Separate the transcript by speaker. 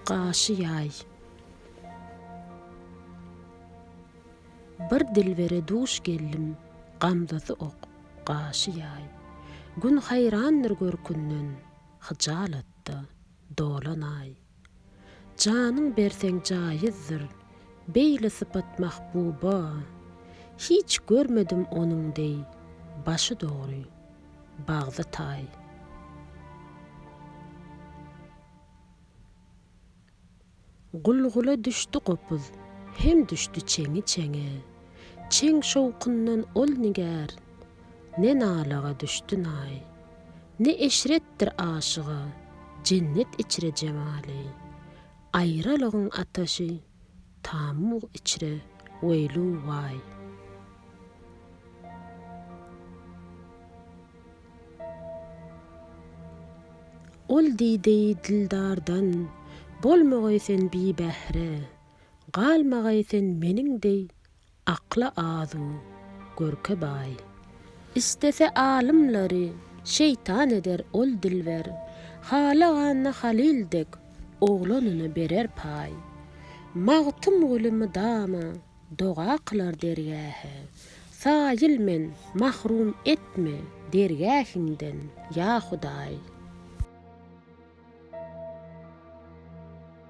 Speaker 1: Gaşy ýaý. Bir dilbere duş geldim, gamzasy ok, gaşy ýaý. Gün haýrandyr görkünden, hyjalatda dolan aý. Janyň berseň jaýyzdyr, beýle sypat mahbuba. Hiç görmedim onuň deý, başy dogry, bagty taý. Gul-gula düşdi gopuz, hem düşdi çeňi-çeňe. Çeň şowkundan ol nigär, ne nalaga düşdi naý. Ne eşretdir aşyga, jennet içre jemaly. Aýralygyň ataşy, Tamug içre weýlu waý. Ol diýdi dildardan, Bolmagaý sen bibähre, Galmagaý sen meniň deý Akla azu, görke baý. Istese alymlary şeýtan eder ol dilber, Halaganda halyl dek oglanyna berer paý. Magtymguly mydama doga kylar dergähe, Saýyl men mahrum etme dergähiňden, ýa Hudaý.